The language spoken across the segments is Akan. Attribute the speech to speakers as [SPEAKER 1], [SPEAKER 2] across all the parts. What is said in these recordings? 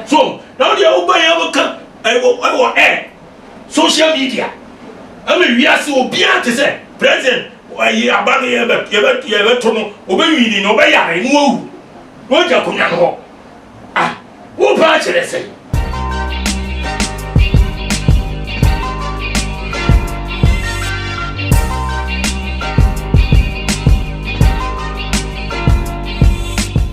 [SPEAKER 1] So na wo deɛ wobɔ yɛn mo ka ɛwɔ ɛwɔ ɛ social media ɛmɛ wiase obiara te sɛ president ɛyi aba no yɛbɛ yɛbɛ yɛbɛto no ɔbɛwini na ɔbɛyare na wawu na ɔgya akonnwa no hɔ ah wopɛ akyerɛ sɛn.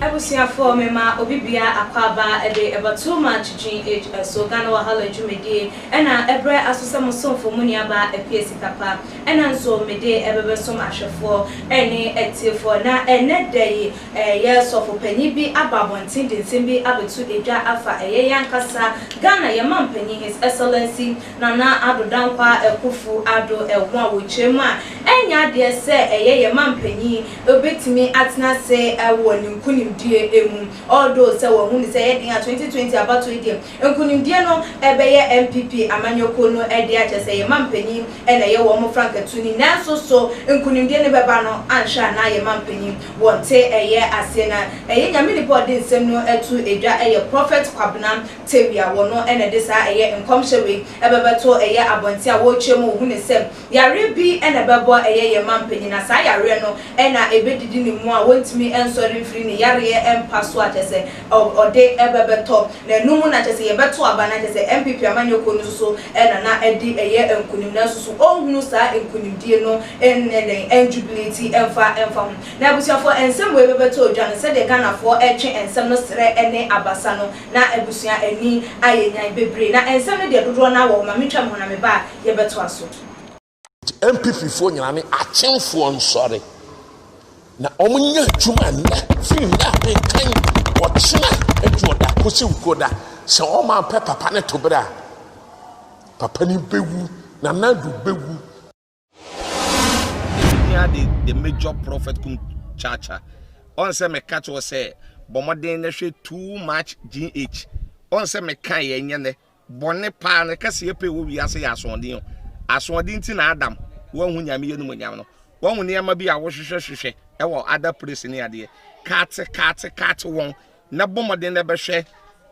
[SPEAKER 2] Abusuafoɔ, mema obi biara akwaaba de ɛba Too Much GH so, Ghana Wahala dwumadie, ɛna ɛbrɛ aso sɛ mo somfo, mo nuabaa Appiah Sikapa, ɛna nso mede ɛbɛbɛsom ahwɛfoɔ ɛne atiefoɔ, na ɛnnɛ da yi Ɛyɛ sɔfo panyin bi aba abɔnten de nsɛm bi abɛto edwa afa ɛyɛ yɛn ankasa Ghana yɛn mampanyin His Excellency Nana Addo Dankwah Akuffo Addo ɛho a wɔkyerɛ mu a ɛnyɛ adeɛ sɛ ɛyɛ yɛn mampanyin ɔbɛtumi atena ase wɔ ne nkunimdie mu although sɛ wɔahunu sɛ ɛyɛ den a 2020 abatoɔ yi deɛ Nkunimdie no bɛyɛ NPP amanyɔkuo no dea akyerɛ sɛ yɛn manpanin na ɛyɛ wɔn frankatuni nanso so nkunimdie no bɛba no anhwɛ a na yɛn manpanin wɔnte ɛyɛ aseɛ na ɛyɛ Nyame nipa ɔde nsɛm no to dwa ɛyɛ Prophet Kwabena Tawia wɔno na ɛde saa ɛyɛ nkɔmhyɛ wei bɛbɛto ɛyɛ abɔnten a wɔretwa mu ɔhunu sɛ Yareɛ bi na ɛbɛbɔ a ɛyɛ yɛn manpanyin na saa yareɛ no na ɛbɛdidi ne mu a wɔntumi nsɔre mfiri ne yareɛ mpa so a kyerɛ sɛ ɔde ɛbɛ bɛtɔ na ɛno mu na kyerɛ sɛ yɛbɛto aba na kyerɛ sɛ NPP amanyɛ kuo no nso so na na ɛde ɛyɛ nkunim nanso so ɔnhunu saa nkunimdie no nyɛ dɛn ɛnjubileti mfa mfa ho na abusuafoɔ nsɛm wei bɛbɛtɔ dwa no sɛdeɛ Ghanafoɔ ɛtwe nsɛm no serɛ ne abasa no na abusua ani ayɛ nyan bebree na nsɛm no deɛ dodoɔ no ara wɔ hɔ ma me twa mu na me ba a
[SPEAKER 3] yɛbɛtoa so. NPP foɔ nyinaa ne akyemfoɔ nsɔre na wɔn nyɛ adwuma nnɛ firi nnɛ a mekan ɔkyena aduoda kɔsi nkoda sɛ wɔn ampɛ papa no toberɛ a papa no bɛwu Nana Addo bɛwu.
[SPEAKER 4] Nehemia de the major prophet kum kyaakya. Ɔn sɛ meka kyerɛ sɛ bɔ mmɔden na hwɛ too much GH. Ɔn sɛ meka yɛ nyɛ nɛ bɔne paa ne kɛse yɛ pɛ wɔ wiase yɛ asoɔden o. Asoɔden ti na Adam wanhu nyame yɛ no mu nyam no. Wahu nneɛma bi a wohwehwɛ hwehwɛ ɛwɔ other place ne adeɛ. Kaate kaate kaate wɔn na bɔ mmɔden na bɛhwɛ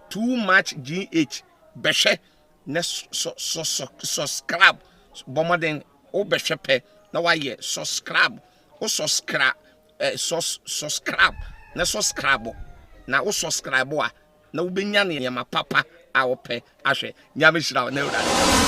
[SPEAKER 4] too much GH. Bɛhwɛ na sɔskrab bɔ mmɔden wo bɛhwɛ pɛ na wayɛ sɔskrab wo sɔskra ɛ sɔs sɔskrab na sɔskrab na wo sɔskrab a na wobɛnya nneɛma papa a wopɛ ahwɛ nyame hyira wo na awurade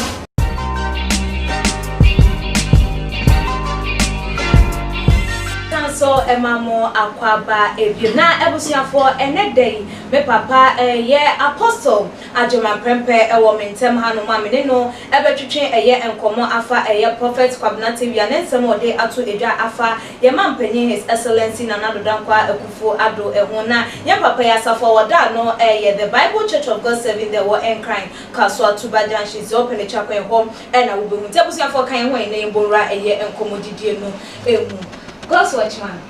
[SPEAKER 4] nso ɛma mo akwaba ebiem na
[SPEAKER 2] abusuafoɔ ɛnɛ da yi me papa ɛyɛ apostle Agyema prɛmpɛ wɔ me ntɛm hanom a me ne no bɛtwetwe ɛyɛ nkɔmmɔ afa ɛyɛ Prophet Kwabena Tewia ne nsɛm a ɔde ato edwa afa yɛn Mampanyin His Excellency Nana Addo Dankwah Akuffo Addo ho na yɛn papa yi asafo a wɔda ano yɛ The Bible Church of God Serving The Wɔ Nkran, Kasoa Tuba Junction, Zeo Penechakwan hɔ na wobɛhu. Nti abusuafoɔ ka yɛn ho a yɛne yɛn bɔ nwura ɛyɛ nkɔmmɔdidie no mu. Godswatchman.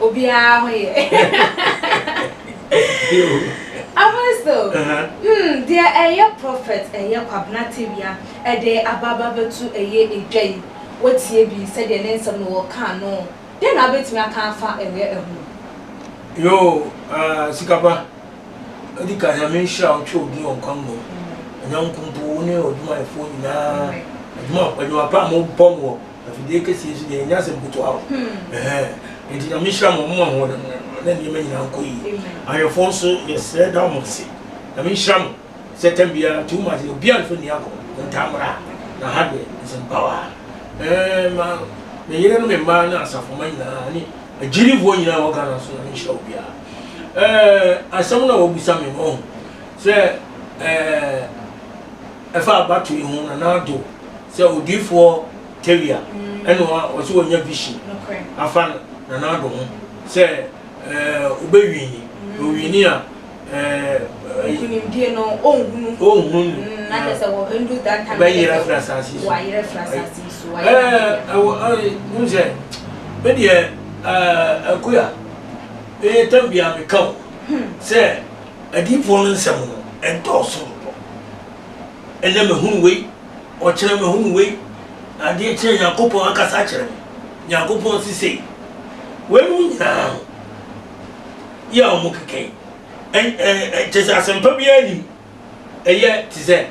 [SPEAKER 2] obiara ho yɛ apostle hmm deɛ ɛyɛ prophet ɛyɛ kwabena tewia ɛde ababa bɛtu ɛyɛ edwa yi wotie bi sɛdeɛ ne nsɛm no wɔka no deɛ na wobɛtumi aka afa ɛyɛ ɛho yo
[SPEAKER 1] uh, sikapa ɛdi ka nyame nhyira wo twɛ odin ɔnkwa mmom ɛnyɛ nkompo wo ne ɔdwumayɛfoɔ nyinaa adwuma pa a mobɔ no wɔ Afidie kɛseɛ nso deɛ ɛnyɛ asɛm ketewa o. Nti Nyame nhyira mo, mo ahoɔden no ano na nneɛma nyinaa nkɔ yie. Ahwɛfoɔ nso yɛsrɛ da mo ase. Nyame nhyira mo. Sɛ tam biara too much deɛ obiara nso nni agorɔ. Montaa mmra na ha deɛ nsɛm power a. Ɛɛ ma me yere ne me mma ne asafo mma nyinaa ne agyidifoɔ nyinaa wɔ Ghana nso Nyame nhyira obiara. Ɛɛ asɛm na wɔbisa me no wahu sɛ ɛɛ. Ɛfa abato yi ho na n'ado sɛ odiyifoɔ Teria ɛna ɔsɛ ɔnya vision afa no na n'ado ho sɛ ɛɛ ɔbɛ wini
[SPEAKER 2] na ɔwini a
[SPEAKER 1] ɛɛ
[SPEAKER 2] nkunimdie no ɔnhunu ɔnhunu no mm, na kyɛ sɛ wɔ ɛndu that time bɛyerɛ firi asase yi
[SPEAKER 1] so wɔayerɛ firi
[SPEAKER 2] asase yi so ɛɛ ɛwɔ
[SPEAKER 1] sɛ me deɛ ɛɛ ɛkoya ɛyɛ tam biara meka o hmm. sɛ Adiyifoɔ no nsɛm no, ɛdɔɔso dodo. Ɛnnɛ mahunu wei, ɔkyena mahunu wei, na adeɛ kyee a Nyankopɔn akasa akyerɛ me. Nyankopɔn se sei. Weinom nyinaa ho yɛ a wɔkeka yi, ɛ, ɛ, ɛ, kyerɛ sɛ asɛmpa biara nim. Ɛyɛ te sɛ,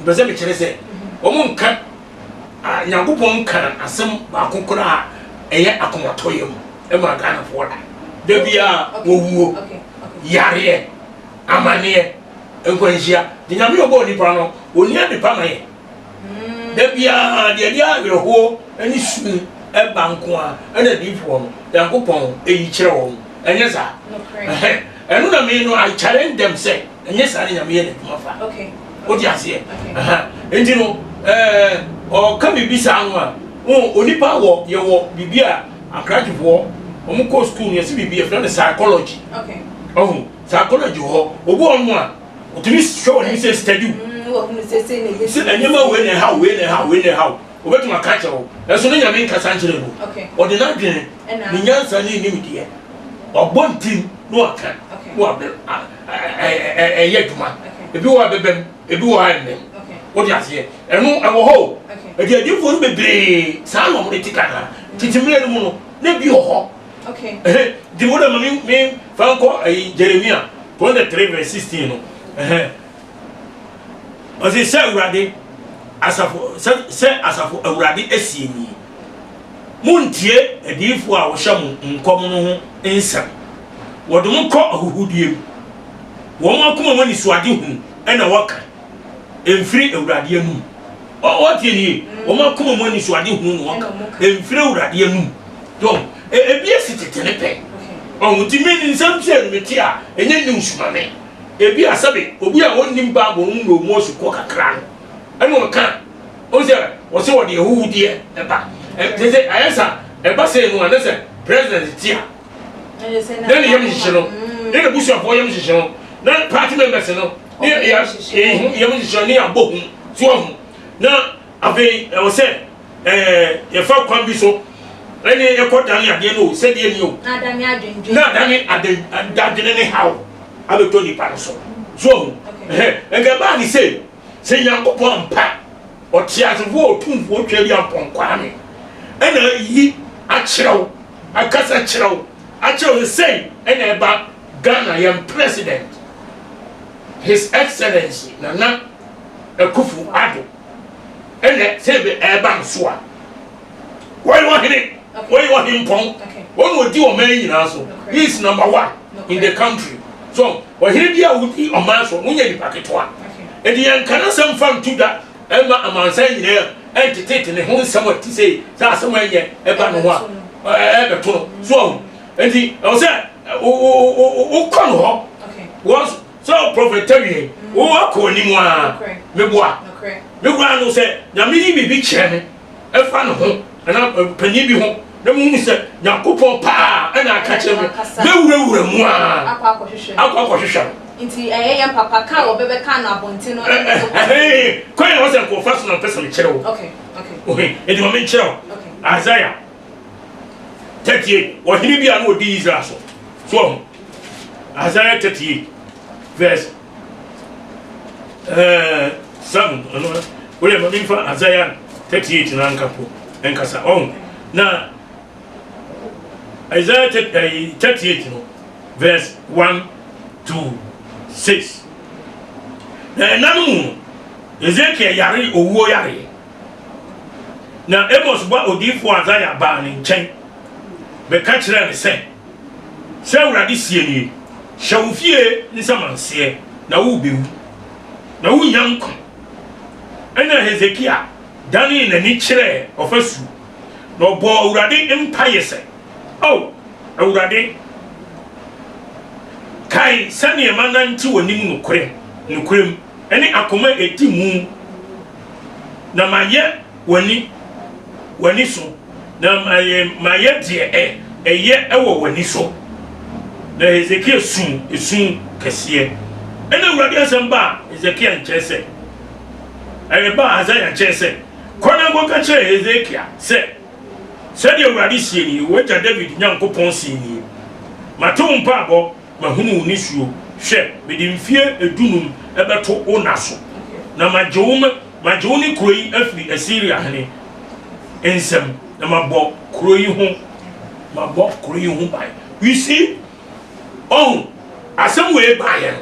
[SPEAKER 1] mepɛ sɛ mekyerɛ sɛ, wɔnka. Ah, Nyankopɔn kaa asɛm baako koraa a ɛyɛ akomatɔyam maa Ghanafoɔ da. Da biara owuo, yareɛ, amaneɛ, nkwanhyia. Nti Nyame a ɔbɔɔ nnipa no, ɔnni adepa ma yɛn. Da biara deɛ ɛde awerɛhoɔ ne su ba nko ara ɛna adiyifoɔ no, Nyankopɔn yi kyerɛ wɔn. Ɛnyɛ saa? Ɛhɛn. Ɛno na me no, I challenge them sɛ, Ɛnyɛ saa na Nyame yɛ n'adwuma fa. Wote aseɛ? Aha. Enti no, eh, ɔka biribi saa no a, ho, onipa wɔ, yɛwɔ biribi a Ankrakyefoɔ, wɔn kɔɔ sukuu no, yɛse biribi, yɛfrɛ no psychology. Ɔho, psychology wɔ hɔ. Obi wɔ hɔnom a, ɔtumi hwɛ w'anim sɛ study wo. Sɛ nneɛma wei na ɛhaw, wei na ɛhaw, wei na ɛhaw. Ɔbɛtumi aka akyerɛ wo. Nanso ne Nyame nkasa nkyerɛ no. Ɔde n'adwene, ne nyansa ne ne nimdeɛ, wabɔ ntim na waka, na wabɛ, ah. ɛyɛ adwuma ebi wɔ ɛbɛbɛm ebi wɔ ha ɛmmɛm wode aseɛ ɛno ɛwɔ hɔ o ɛdi adiifoɔ no bebree saa na wɔde te ka na tete mmerɛ no mu no na ebi wɔ hɔ de wo na ma me me fa nkɔ ɛyi jeremia twenty three verse sixteen no ɔsi sɛ awurade asafo sɛ sɛ asafo awurade asie nie. Munntie adiyifo a wɔhyɛ mo nkɔm no ho nsɛm. Wɔde mo kɔ ahuhudeɛ mu. Wɔn akoma mu anisoadehunu na wɔka, ɛmfiri Awurade anom. Ɔ, wɔtie no yie. Wɔn akoma mu anisoadehunu na wɔka, ɛmfiri Awurade anom. Dɔn, e, ebi asi tete ne pɛ. Ɔho nti me nsɛm tiɛ no mete a, ɛnyɛ news ma me. Ebia sɛbe obi a ɔnnim Bible no mu na ɔmu asukɔ kakra no, ɛna ɔka. Wohu sɛ wɔse wɔde ahuhudeɛ ba. Sese ayɛ sa ɛba sei no a na sɛ president te a na ne yam hyehye no ne ne busuafoɔ yam hyehye no na party members no ne yɛ yam hyehye no ne yɛabɔ hu so ahu na afei ɛwɔ sɛ ɛɛ yɛfa kwan bi so ɛne ɛkɔ dane adeɛ no o sɛdeɛ ni o na adane adwene ne haw abɛtɔ nipa no so so ahu ɛhɛ ɛnka ɛbaa ne sei Sɛ Nyankopɔn ampa Ɔtseasefoɔ Otumfoɔ Tweaduampɔn Kwame na ayi akyerɛ wo, akasa kyerɛ wo, akyerɛ wo sɛ sei na ɛba Ghana yɛn President His Excellency Nana Akuffo Addo na sei be ɛreba no so a, Wɔyɛ wɔn hene, wɔyɛ wɔn hempɔn, wɔn na odi ɔman nyinaa so. He is number one in the country. So ɔhene bi a wodi ɔman so no nyɛ nipa ketewa. Ɛdi yɛn nka n'asɛm fa ntu da ɛma amansan nyinaa ɛntetete ne ho nsɛm a ti sɛ sɛ asɛm a ɛnyɛ ɛba ne ho a ɛbɛto no. So ɔho nti ɛwɔ sɛ wokɔ no hɔ wɔn sɛ prɔfɛt tawie wowɔ akɔ anim a meboa mekura no sɛ nyame yi biribi kyerɛ me ɛfa ne ho anaa panin bi ho na mohu sɛ Nyankopɔn paa na aka kyerɛ me, mɛwurawura mu ara akɔ akɔhwehwɛ no. Nti ɛyɛ
[SPEAKER 2] yɛn papa ka a wɔbɛbɛka no abɔnten no ɛne so kwan
[SPEAKER 1] no mu. Kwan a ɛwɔ sɛ nkurɔfoɔ so na mepɛ sɛ mekyerɛ wo. Ohe, enti ma menkyerɛ wo. Isaiah 38, ɔhene bi a na ɔdi Israel so. So wahu? Isaiah 38 vs. Eh, Sam, ɔno ɛ, woyɛ ma memfa Isaiah 38 no anka po nkasa, ɔho, na Isaiah 38 no, verse 1 to 6. Na ɛna no mu no, Ezekiel yare owuo yareɛ, na Amos ba odiyifoɔ Isaiah baa ne nkyɛn bɛka kyerɛɛ ne sɛ, sɛ Awurade seɛ nie, Hyɛ wo fie nsamanseɛ, na worebɛwu, na worennya nkwa. Ɛnna Hesekia danee n'ani kyerɛɛ ɔfasuo, na ɔbɔɔ Awurade mpaeɛ sɛ, Ao Awurade, kae sɛdeɛ manante w'anim nokorɛ, nokorɛm, ne akoma a ɛdi mu, na mayɛ w'ani, w'ani so, na ma yɛ, ma yɛ deɛ ɛ, ɛyɛ wɔ w'ani so. Na Hesekia suu esu kɛseɛ. Ɛna Awurade asɛm baa Hesekia nkyɛn sɛ, ɛɛ, baa Hasaia nkyɛn sɛ, Kɔ na kɔka kyerɛ Hesekia sɛ, Sɛdeɛ Awurade seɛ nie, w'agya Dawid Nyankopɔn seɛ nie, Mate wo mpaebɔ, mahunu wo nisuo, hwɛ, mede mfeɛ dunum bɛto wo nna so, na magye wo ma, Magye wo ne kuro yi afiri Asiria hene nsam, na mabɔ kuro yi ho, mabɔ kuro yi ho ban. You see? Ɔho, asɛm wei baeɛ no,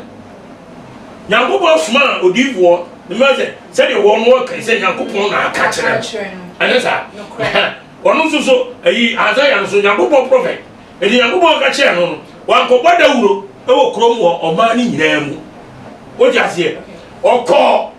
[SPEAKER 1] Nyankopɔn somaa odiyifoɔ, ne mmerɛ sɛ, sɛdeɛ wɔn no wɔka sɛ Nyankopɔn na aka kyerɛ no. Ɛnyɛ saa? Ɛhɛ, ɔno nso so, ayi, Isaiah nso, Nyankopɔn prɔfɛt. Enti Nyankopɔn ka kyerɛɛ no no, wankɔbɔ dawuro wɔ kurom wɔ ɔman no nyinaa mu. Wote aseɛ? Ɔkɔɔ.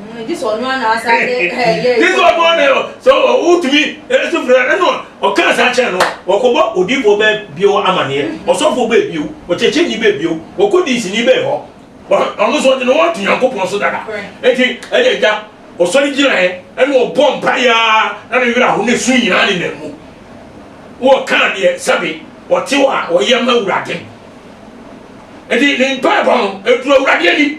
[SPEAKER 2] Mm, Jesu ɔno ara na
[SPEAKER 1] asa de ɛyɛ eh, Jesu ɔno ara na sɛ wotumi ɛso fira ɛno ɔka asa kyɛn no ɔkɔbɔ odiifoɔ bɛɛ bio amaneɛ mm-hmm. ɔsɔfoɔ bɛɛ bio ɔkyɛkyɛni bɛɛ bio ɔkɔdi nsini bɛɛ hɔ ɔno nso ɔde ne ho ato nyankopɔn so dada eti ɛde agya ɔsɔre gyinaeɛ ɛna ɔbɔ mpaeɛ na ne werɛ aho ne su nyinaa ne nan mu wɔka deɛ sɛbe ɔte hɔ a ɔyɛ ma awurade ɛde ne mpaebɔ no ɛduru awurade ani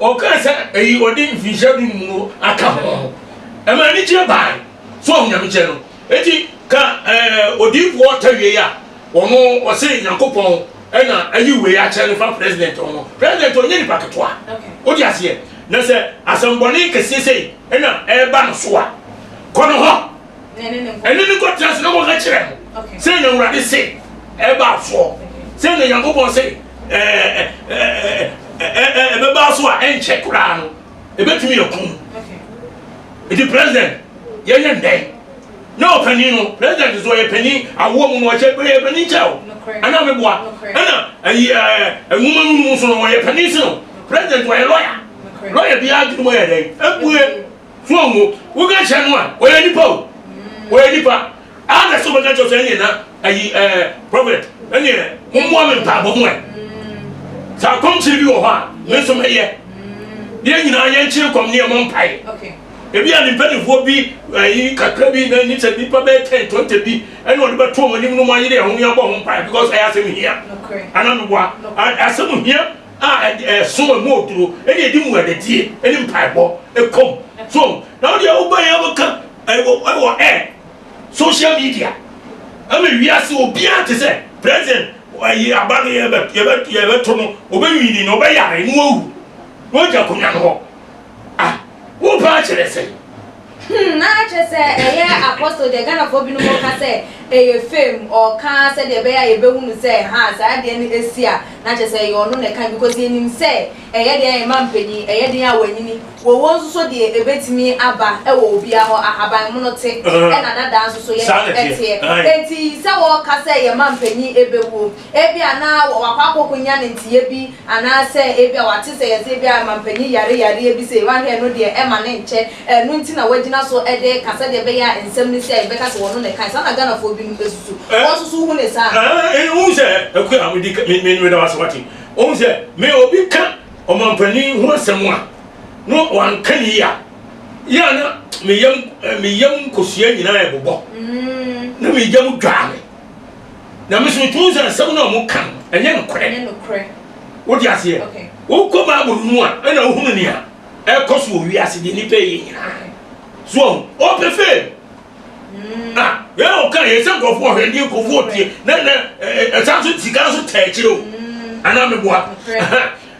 [SPEAKER 1] ɔkaa sɛ ɛyi ɔde mfinhyia du no mu no aka ho ɛma anigyeɛ bae so ɔho nyame kyɛ no enti ka odiyifoɔ ɔta wie a ɔno ɔse nyankopɔn ɛna ayi wei akyɛ no fa president ɔno president ɔnyɛ nipa ketewa wode aseɛ na sɛ asɛmbɔne kɛseɛ sɛ ɛna ɛba no so a kɔ no hɔ ɛne ne kɔtena ase na wɔka kyerɛ no sɛ na awurade se ɛba asoɔ sɛ na nyankopɔn se ɛbɛba so a ɛnkyɛ koraa no ɛbɛtumi akum ɛti president yɛyɛ ndɛn na ɔpanin no president nso ɔyɛ panin awoɔ mu no ɔhyɛ ɔyɛ panin kyɛw ɛna meboa ɛna ɛyi ɛɛ nwoma no mu nso no ɔyɛ panin si no president ɔyɛ lɔya lɔya bi adwuma yɛ dɛn ebue. Ho a wo wo ka kyerɛ no a ɔyɛ nipa o ɔyɛ nipa a na sɛ ɔbɛka kyerɛ sɛ ɛneɛ na ayi ɛɛ prophet ɛneɛ mommoa me mpaabɔ ho ɛ sɛ akɔmkyere bi wɔ hɔ a me nso mɛyɛ yɛn nyinaa yɛnkyere kɔm ne yɛmmɔ mpae ebi a
[SPEAKER 2] ne mpanimfoɔ
[SPEAKER 1] bi ɛyi kakra bi na ni sɛ nipa bɛyɛ ten twenty bi ɛna ɔde bɛto wɔn anim no mo ayere ɛho ne abɔ ho mpae because ɛyɛ asɛm hia ana meboa asɛm hia a ɛde ɛso ɛmu oduro ɛna ɛde mu adadie ɛne mpaebɔ ɛkɔm so na ɔde ɛwoba yɛ abɛka ɛwɔ ɛwɔ ɛ social media ɛma wiase obiara te sɛ president ɛyi aba no yɛbɛ yɛbɛ yɛbɛto no ɔbɛnwini na ɔbɛyare na wawu na ɔgya akonnwa no hɔ Ah, wo paa kyerɛ sɛn? Hmm, na
[SPEAKER 2] kyerɛ sɛ ɛyɛ apostle deɛ Ghanafoɔ binom ka sɛ ɛyɛ fame, ɔka sɛdeɛ ɛbɛyɛ a yɛbɛhunu sɛ ha saa adeɛ no ɛsi a, na kyerɛ sɛ ɛyɛ ɔno na ɛka because yɛnim sɛ ɛyɛ deɛ ɛma mpanyin, ɛyɛ deɛ a wanyini, wɔwɔ nso so deɛ ɛbɛtumi aba ɛwɔ obiara hɔ, ahaban mono te, ɛna dadaa nso so yɛde ɛteɛ, enti sɛ wɔka sɛ yɛma mpanyin ɛbɛwuo. Ebia na wakɔ akɔkɔnya ne nteyɛ bi anaasɛ ebia wate sɛ yɛse ebia mampanyin yare yareɛ bi sei, wahwɛ ɛno deɛ ɛma no nkyɛ, ɛno nti na wagyina so de reka sɛdeɛ ɛbɛyɛ a nsɛm no si a yɛbɛka sɛ ɔno na ɛkae. Saa na Ghanafoɔ binom susu. Wo nso so wohu no saa? Wohu sɛ,
[SPEAKER 1] Akua, mede ka, me, meda wo ase, wate. Wohu sɛ, me, obi ka ɔmanpanin ho asɛm a, na wanka no yie a, yɛ a na me yam, me yam nkosua nyinaa ɛbobɔ, na me yam dwaa me. Na mesoro tumi sɛ asɛm no a ɔmo ka no ɛnyɛ nokorɛ. Ɛnyɛ nokorɛ. Wodi aseɛ? Okay. Wokɔ Bible no mu a ɛna wohunu nea ɛkɔ so wɔ wiase deɛ nipa yɛ nyinaa. So ɔho, ɔpɛ fame. Mm. Ah, yɛn ɔka yɛ sɛ nkurɔfoɔ ɔhwɛ deɛ nkurɔfoɔ tie na na ɛsan so sika so tɛ akyire o. Mm. Anaa meboa.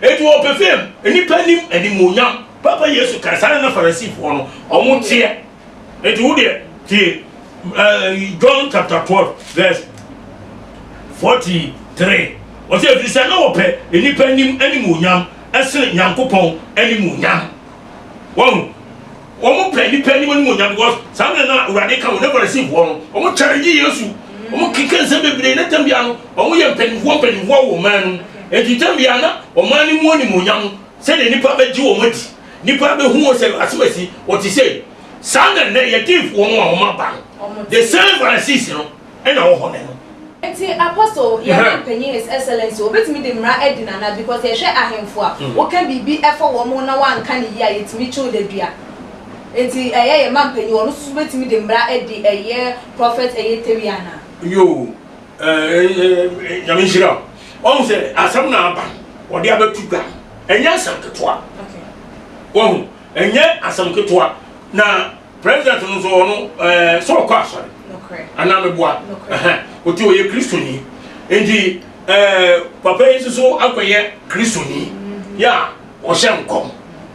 [SPEAKER 1] Eti ɔpɛ fame, nipa nim animuonyam. Papa Yesu ka saa na Farisifoɔ no ɔmo teɛ. Enti wo deɛ tie ɛɛ John chapter twelve verse forty three ɔsɛ efiri sɛ na wɔpɛ nnipa anim animuonyam ɛsene Nyankopɔn animuonyam wɔn wɔn pɛ nnipa anim animuonyam because saa mmerɛ na awurade ka wɔn na farisifoɔ no wɔn kyɛre gye Yesu wɔn keka nsɛm bebree na tam biara no wɔn yɛ mpanimfoɔ mpanimfoɔ wɔ ɔman no mu enti tam biara na ɔman no mu animuonyam sɛdeɛ nnipa bɛgye wɔn adi Nnipa bɛhu wɔn sɛ asomasi, wɔte sei. Saa na nnɛ yɛn Deefoɔ no a wɔaba no, the same Pharisees no na wɔwɔ hɔ nnɛ no. Nti Apostle,
[SPEAKER 2] yɛn man panyin His Excellency, wɔbɛtumi de mmara adi no anaa? Because yɛhwɛ ahemfo a, woka biribi fa wɔn ho na wɔanka no yie a, yɛtumi twe wo da dua. Nti ɛyɛ yɛn man panyin, ɔno nso so bɛtumi de mmara adi ɛyɛ Prophet Eyetewi anaa? Yoo,
[SPEAKER 1] eh, eh, eh, Nyame nhyira wo. Wahu sɛ asɛm na aba wɔde abɛto dwa, ɛnyɛ asɛm ketewa. Wahu, ɛnyɛ asɛm ketewa. Na president no nso ɔno ɛɛ eh, sɛ ɔkɔ asɔre anaa meboa ɔti ɔyɛ kristoni nti ɛɛ eh, papa yi nso so akɔyɛ kristoni mm-hmm. yɛ a ɔhyɛ nkɔm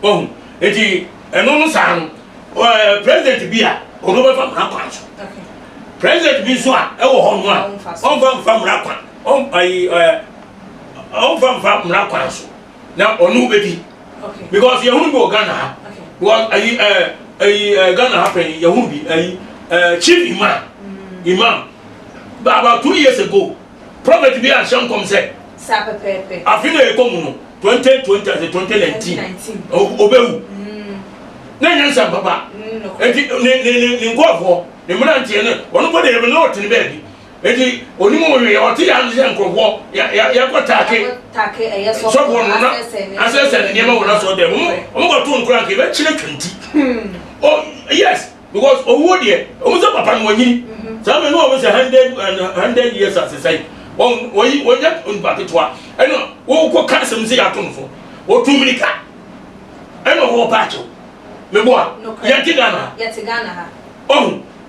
[SPEAKER 1] wahu nti ɛno no saa no ɛɛ eh, president bi a ɔno bɛfa mmara kwan so president bi nso a ɛwɔ hɔ no a ɔnfa mfa mmara kwan. ɔm ayi ɛɛ eh, ɔmfa mfa mmara kwan so na ɔno bɛdi because yɛhunu bi wɔ ghana ha because ayi ɛɛ eh, ayi ɛɛ eh, ghana ha pɛn yɛhunu bi ayi ɛɛ chief imam mm. imam about two years ago prophet bi ahyɛ nkɔm sɛ
[SPEAKER 2] afe na ɛkɔ mu no
[SPEAKER 1] 2020 ase 2019 ɔbɛwu mm. na ɛnyɛ nsɛm papa ɛnti mm, ne nkɔɔfoɔ ne mmeranteɛ no ɔno bɔ de yɛbɛ na ɔtene baabi Enti onim ɔwee ɔte yɛ ase sɛ nkurɔfoɔ yɛkɔ take
[SPEAKER 2] sɔfoɔ no na
[SPEAKER 1] asɛ sɛ ne nneɛma wɔ n'asɔ dɛ wɔn wɔn kɔ to nkura nka yɛbɛkyerɛ kanti oh yes because owuo deɛ wɔn sɛ papa no wɔnyini mm-hmm. saa mɛ no wɔn sɛ hundred and hundred years asesɛe wɔn wɔyi wɔnyɛ nipa ketewa ɛna wɔkɔ ka asɛm sɛ yɛato no fo wɔtu mirika ɛna wɔwɔ paakyew meboa yɛte ghana ha
[SPEAKER 2] ɔho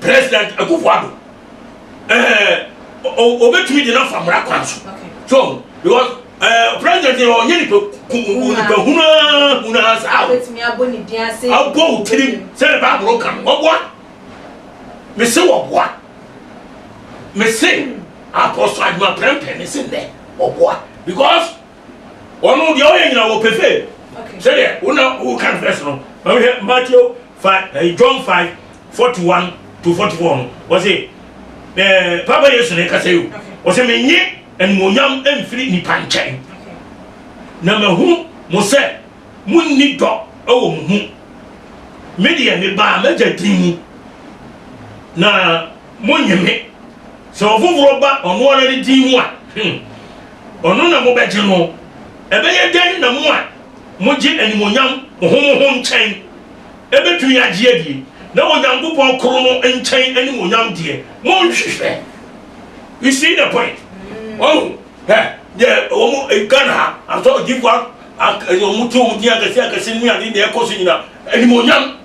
[SPEAKER 1] president akufo ado ɛɛ obetumi de n'afa mmara kwan so so because ɛɛ president yɛ ɔnyɛ nipa nipa hunaa hunaa saa
[SPEAKER 2] o abɔ o tirim
[SPEAKER 1] sɛde baabolo ka no ɔboa mese wɔboa mese apɔsɔ adwuma pɛrɛmpɛrɛ mese nnɛ ɔboa because. Ɔno deɛ ɔyɛ nyina wɔ pɛfɛ. Sɛdeɛ wo na wo kan fɛs no. Ma mi hwɛ Matthew five ɛɛ eh, John five forty one to forty four no. Ɔse ɛɛ eh, Papa Yesu na ɛkasa yi o. Ɔse mi nye animonyam mfiri nipa nkyɛn. Na ma hu mo sɛ mo nni dɔ ɛwɔ mo mu. Me deɛ me baa m'agya din mu. Na Monnye me. Sɛ ɔfoforɔ ba ɔno ara ne din mu a, hmm, ɔno na mobɛgye no. Ɛbɛyɛ dɛn na mo a mogye animuonyam ho mo ho nkyɛn bɛtumi agye adie, na Onyankopɔn koro no nkyɛn animuonyam deɛ, monhwehwɛ. You see the point? Wahu? Hɛ, deɛ wɔn Ghana ha, asɔredifoɔ a wɔte wɔn din akɛseakɛse no ne adeɛ deɛ ɛkɔ so nyina, animuonyam.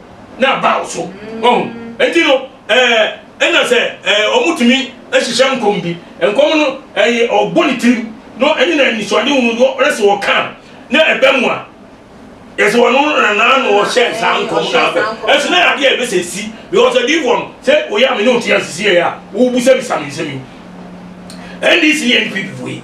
[SPEAKER 2] na abaw so. Wahu? Enti no, ɛɛ, ɛna sɛ, ɛɛ, wɔtumi hyehyɛ nkɔm bi. Nkɔm no, ɛyɛ, ɔbɔ ne tirim, na ɛne na anisoade hunu no, na sɛ ɔka a, na ɛba mu a, yɛsɛ ɔno na na na ɔhyɛ saa nkɔm no abɛ. Ɛso na adeɛ a ɛbɛsɛ si, because adiifoɔ no, sɛ oyɛ a me ne wo te ase sieɛ a, wobisabisa me nsɛm yi. NDC ne NPP foɔ yi.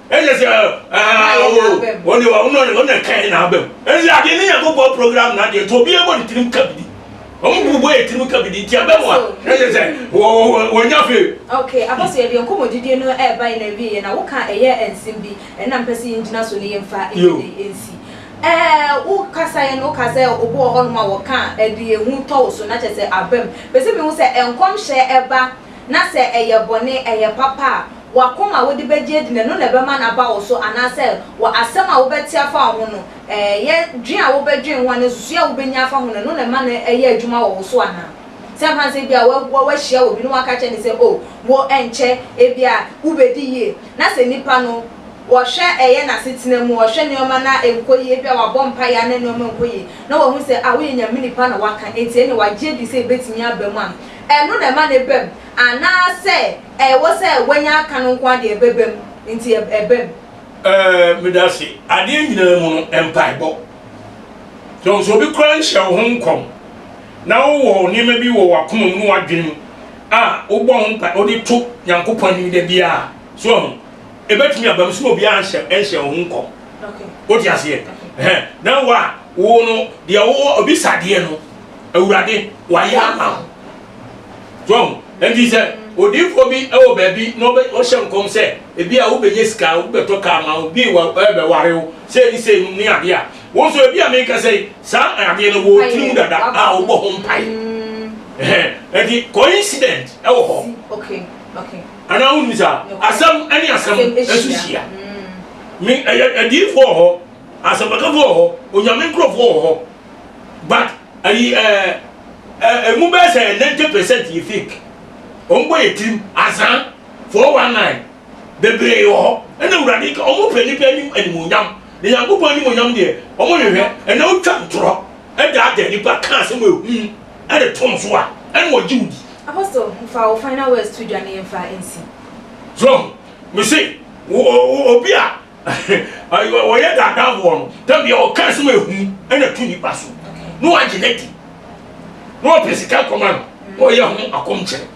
[SPEAKER 2] ɛnyɛ
[SPEAKER 1] sɛ ɔne ɔne kan na abam ɛne sɛ adeɛ ne nyankopɔn program no adeɛ nti obiara bɔ ne tirim ka bidi wɔn mu bɔ yɛ tirim ka bidi nti abam a ɛnyɛ sɛ wɔnya fee ok apɔsɛ yɛde
[SPEAKER 2] nkɔmmɔdidie no ɛɛba yɛ na awie yɛ na woka ɛyɛ nsɛm bi ɛna mpɛ sɛ yɛngyina so ne yɛmfa ɛdede nsi wo kasa yɛ no woka sɛ obi wɔ hɔ nom a wɔka ɛde ehu tɔ wo so na kyɛ sɛ abam pɛ sɛ mehu sɛ nkɔmhyɛ ɛba na sɛ ɛyɛ bɔne, ɛyɛ papa a, wɔ akoma a wode bɛgye adi no, ɛno na ɛbɛma no aba wo so, anaasɛ wɔ asɛm a wobɛte afa wo ho no, ɛyɛ dwen a wobɛdwen ho anaa nsusuiɛ a wobɛnya afa ho no, ɛno na ɛma no yɛ adwuma wɔ wo so anaa? Sɛ anhwɛ a sɛ ebia woahyia obi na woaka akyerɛ no sɛ, oh, wo ɛnkyɛ ebia wobɛdi yie, na sɛ nipa no wɔhwɛ ɛyɛ n'asetena mu, ɔhwɛ nneɛma na ɛnkɔ yie, ebia wabɔ mpaeɛ a na nneɛma nkɔ yie, na wahu sɛ ah woyɛ Nyame nipa na woaka, enti ɛnneɛ wagye adi sɛ ɛbɛtumi aba mu a, Ɛno na ɛma no ɛba mu, anaasɛ ɛwɔ sɛ wanya aka no nko ara deɛ ɛbɛba mu nti ɛba mu? Ɛɛ, meda
[SPEAKER 1] ase. Adeɛ nyinaa mu no, mpaebɔ. So sɛ obi koraa nhyɛ wo ho nkɔm, na wowɔ nneɛma bi wɔ w'akoma mu ne w'adwene mu a wobɔ ho mpae, wode to Nyankopɔn anim da biara a, so wahu? Ɛbɛtumi aba mu, so na obiara nhyɛ, nhyɛ wo ho nkɔm. Wote
[SPEAKER 2] aseɛ?
[SPEAKER 1] Ɛhɛn. Na wo a, wo no, deɛ wowɔ, obisa adeɛ no, Awurade, wayɛ ama wo. So ɔho? Ɛnti sɛ odiifoɔ bi wɔ baabi na ɔhyɛ nkɔm sɛ, ebi a wobɛnya sika, wobɛtɔ kaa ma wo, bi wɔ bɛware wo, sei ne sei nom ne adeɛ a, wo nso ebi a meka sɛ saa adeɛ no wɔ tiri mu dada a wobɔ ho mpae. Ɛnti coincident wɔ hɔ.
[SPEAKER 2] Anaa
[SPEAKER 1] wonim saa? Asɛm ne asɛm nso hyia. Adiifoɔ wɔ hɔ, asɛmpakafo wɔ hɔ, onyame nkurɔfoɔ wɔ hɔ. but ayi ɛɛ ɛ emu bɛyɛ sɛ ninety percent yɛ fake wɔn bɔ yɛ tirim azaa four one nine bebree wɔ hɔ ɛna awurade ka wɔn pɛ nipa anim animonyam na nyankopɔn animonyam deɛ wɔn hwehwɛ ɛna wotwa ntorɔ ɛdaadaa nipa ka asɛm ehu ɛde tom so a ɛna wɔgye wo di. Apostle fa
[SPEAKER 2] wo final words to dwa na yɛmfa nsi. So
[SPEAKER 1] me se wo obi a. Wɔyɛ daadaafoɔ no, da bia ɔka asɛm a ɛhu ɛna tu nipa so na wagye no adi na ɔpɛ sika kɔma no na ɔyɛ ho akɔmkyere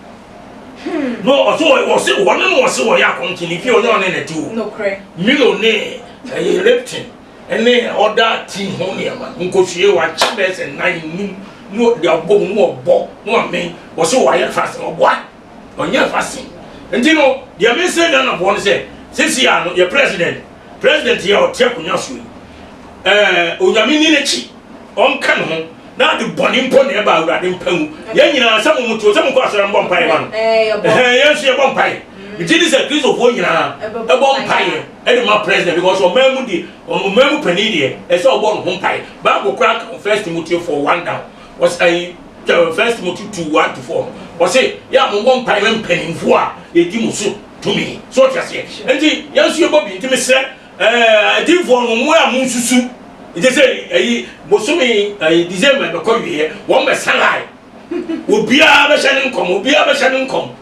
[SPEAKER 1] na ɔso ɔse wɔne na ɔse wɔyɛ akɔmkyere ne fie ɔnyɛ ɔne na ti o Milo
[SPEAKER 2] ne
[SPEAKER 1] ɛyɛ Lipton ɛne ɔda ti ho nneɛma nkosue wakyɛ bɛsɛ nan num na ɔde abɔ mu na ɔbɔ na ɔmen ɔse wɔayɛ fast ɔboa Ɔnyɛ vaccine. Nti no, deɛ mese Ghanafoɔ no sɛ, seesei ara no, yɛ President, President yi a ɔte akonnwa soɔ yi, ɛɛ, Onyame nni n'akyi, ɔnka ne ho, na ade bɔne mpo na ɛba Awurade mpa mu. Yɛn nyinaa, sɛ mo moteɛ o, sɛ monkɔ asɔre mbɔ mpaeɛ ma no, ɛhɛn, yɛn nso yɛbɔ mpaeɛ. Me gye di sɛ Kristofoɔ nyinaa bɛbɔ mpaeɛ de ma President, because ɔman mu deɛ, ɔman mu panin deɛ, ɛsɛ sɛ ɔbɔ ne ho mpaeɛ. Bible koraa ka First Timothy 4, 1 down. wɔsi ayi tɛwɛ first timothy two one to four wɔsi yɛ a mo bɔ mpa yɛ mpanyinfo a yɛdi mo so tumi so ɔte aseɛ nti yɛn nso yɛ bɔ bi nti mi srɛ ɛɛ eh, adiifoɔ no mo a mo nsusu nti sɛ ayi eh, bosomi ayi eh, december bɛkɔ wieɛ wɔn bɛ san ayi obiara bɛhyɛ ne nkɔm obiara bɛhyɛ ne nkɔm.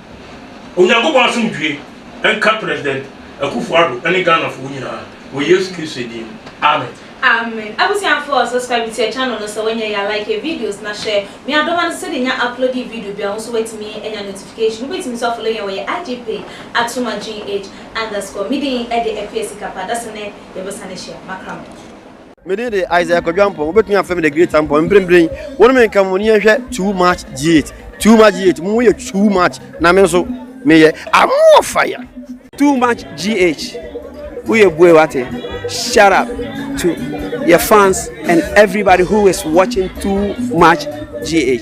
[SPEAKER 1] Onyankopɔn asomdwie nka President Akuffo Addo ne Ghanafoɔ nyinaa wɔ Yesu Kristo din mu, Amen. Amen
[SPEAKER 2] abusuafoɔ subscribe to yɛ channel no sɛ wanyɛ yɛ a like yɛ videos na share me adɔma no sɛdeɛ nya uploadee video biara wonso watumi anya notification wobɛtumi nso afollow yɛn wɔ yɛ IG page atuma GH underscore medin de Afia Sikapa dasene yɛbɛsane ahyia makra mo. Me din de
[SPEAKER 5] Isaiah Kwadwo Ampong. Wobɛtumi afrɛ me The Great Ampong. Mprempren, wo ne me nka mu na yɛnhwɛ Too Much G8. Too Much G8, mo yɛ too much, na me nso meyɛ amoɔ fire. Too Much G8, woyɛ bue wate. Shout out to yɛ fans and everybody who is watching Too Much G8.